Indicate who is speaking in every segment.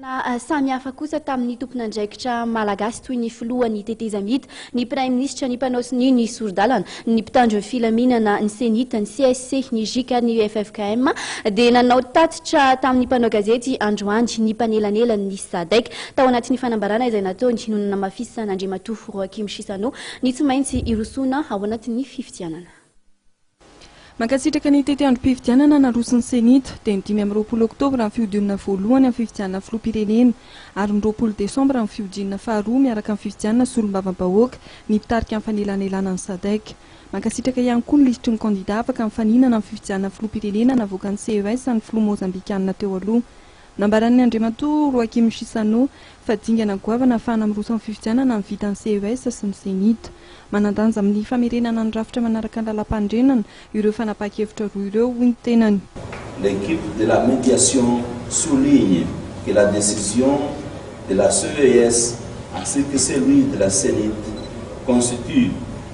Speaker 1: Taorianan'ny fihaonana samy hafa kosa tamin'ny tompon'andraikitra malagasy toy ny filohan'ny tetezamita, ny praiminisitra, ny mpanao sonia, ny sori-dalana, ny mpitandro ny filaminana, ny CENIT, ny CSC, ny GIC ary ny UFFKM dia nanao tatitra tamin'ny mpanao gazety androany ny mpanelanelan'ny Sadec. Tao anatin'ny fanambarana izay nataony no nanamafisan'Andriamatoa Roachim Chissano ny tsy maintsy hirosoana ao anatin'ny fifidianana.
Speaker 2: Mankasitraka ny tetiandrom-pifidianana naroso ny Cenit, dia ny dimy amby roapolo oktobra ny fihodionana voalohany amin'ny fifidianana filoham-pirenena ary ny roapolo desambra ny fihodinana faharoa miaraka amin'ny fifidianana solombavambahoaka ny mpitarika ny fanelanelana ny Sadec. Mankasitraka ihany koa ny lisitry ny kandida afaka mifaninana amin'ny fifidianana filoham-pirenena navoakan'ny CES ny filoha Mozambikanina teo aloha, Nambaran'ny Andriamatoa Roakim Chissano fa dingana goavana hahafahana miroso amin'ny fifidianana ny vitan'ny CES sy ny Cenit. Manan-danja amin'ny famerenana ny rafitra manaraka ny lalàmpanorenana ireo fanapahan-kevitra roa ireo, hoy ny tenany. L'équipe de
Speaker 3: la médiation souligne que la décision de la CES ainsi que celui de la Cenit constituent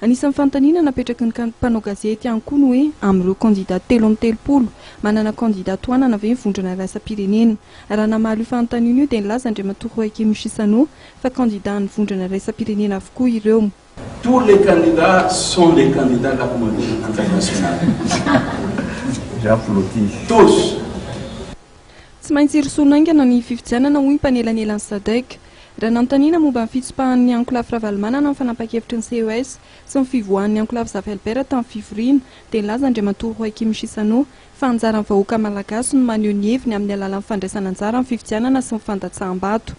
Speaker 2: Anisan'ny fanontaniana napetraky ny mpanao gazety ihany koa ny hoe amin'ireo kandida telo amby telopolo, manana kandida tohanana ve ny vondrona iraisam-pirenena? Raha namaly io fanontaniana io dia nilaza Andriamatoa Roakim Chissano fa kandida an'ny vondrona iraisam-pirenena avokoa ireo. Tous les
Speaker 3: candidats sont des candidats de la communauté internationale. Tous.
Speaker 2: Tsy maintsy hirosoana haingana ny fifidianana, hoy ny mpanelanelan'ny Sadec. Raha nanontaniana momba ny fitsopahan'ny ankolafy Ravalomanana ny fanampahan-kevitry ny CES sy ny fivoahan'ny ankolafy Zafy-Albert tamin'ny fivoriana dia nilaza Andriamatoa Joachim Chissano fa anjaran'ny vahoaka malagasy no maneho ny heviny amin'ny alalan'ny fandraisan'anjara amin'ny fifidianana sy ny fandatsaham-bato.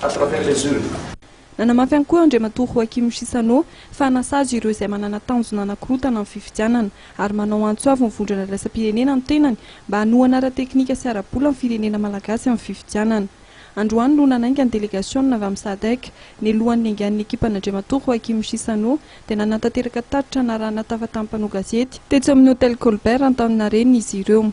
Speaker 3: Attraper les yeux. Nanamafy ihany koa
Speaker 2: Andriamatoa Joachim Chissano fa hanasazy ireo izay manana tanjona hanakorotana ny fifidianana ary manao antso avo ny vondrona iraisam-pirenena ny tenany mba hanohana ara-teknika sy ara-bola ny firenena malagasy amin'ny fifidianana. Androany no nanainga ny delegasionina avy amin'ny Sadec ny lohan'ny engan'ny ekipan'Andriamatoa Joachim Chissano dia nanatanteraka tatitra narahana tafatan'ny mpanao gazety tetsy amin'ny Hotel Colbert Antaninarenina izy ireo.